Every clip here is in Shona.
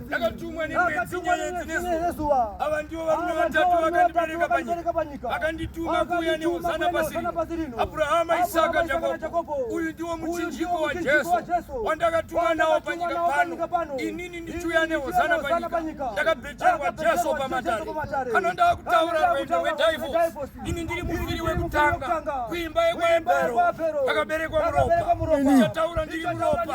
ndakatumwa nemwedzinezuva ava ndivo varume vatatu vakandibereka panyika vakandituma kuuya neuzana pasi rino abrahama isaka jakobo uyu ndiwo muchinjiko wajesu wandakatumwa nawo panyika pano inini ndichiuya neuzana panyika ndakabhejerwa jesu pamatare ano ndava kutaura rwendo wedivos ini ndiri muviri wekutanga kuimba yekwaebhero ndakaberekwa muropa ndichataura ndiri muropa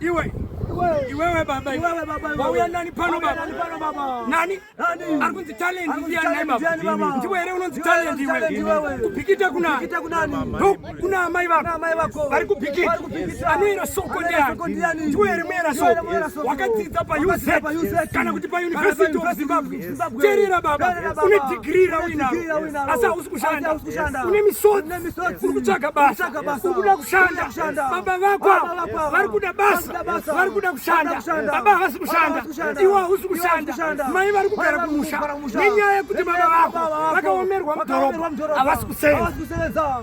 Iwe iwewe baba iwewe baba wauya nani pano baba nani ari kunzi talent ndiya nai baba ndiwe here unonzi talent iwe kupikita kuna kuna amai vako vari kupikita anoera soko ndiani ndiwe here muera soko wakadzidza pauz kana kuti pauniversity of zimbabwe terera baba une digiri rauinaro asi hausi kushanda une misodzi uri kutsvaga basa uri kuda kushanda baba vako vari kuda basa vari kuda kushanda baba havasi kushanda iwe hausi kushanda mai vari kugara kumusha nenyaya yekuti baba vako vakaomerwa mudhorobha havasi kusenza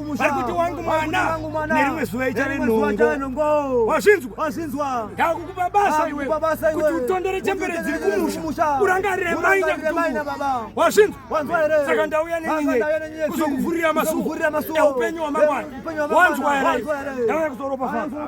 vari kuti wangu mwana nerimwe zuva ichave nhongo wazvinzwa wazvinzwa ndakukupa basa iwe kuti utondere chembere dziri kumusha urangarire mai nyakutuku wazvinzwa saka ndauya nenyinye kuzokuvhurira masuo eupenyu hwamangwana wanzwa here ndauya kuzoropafadza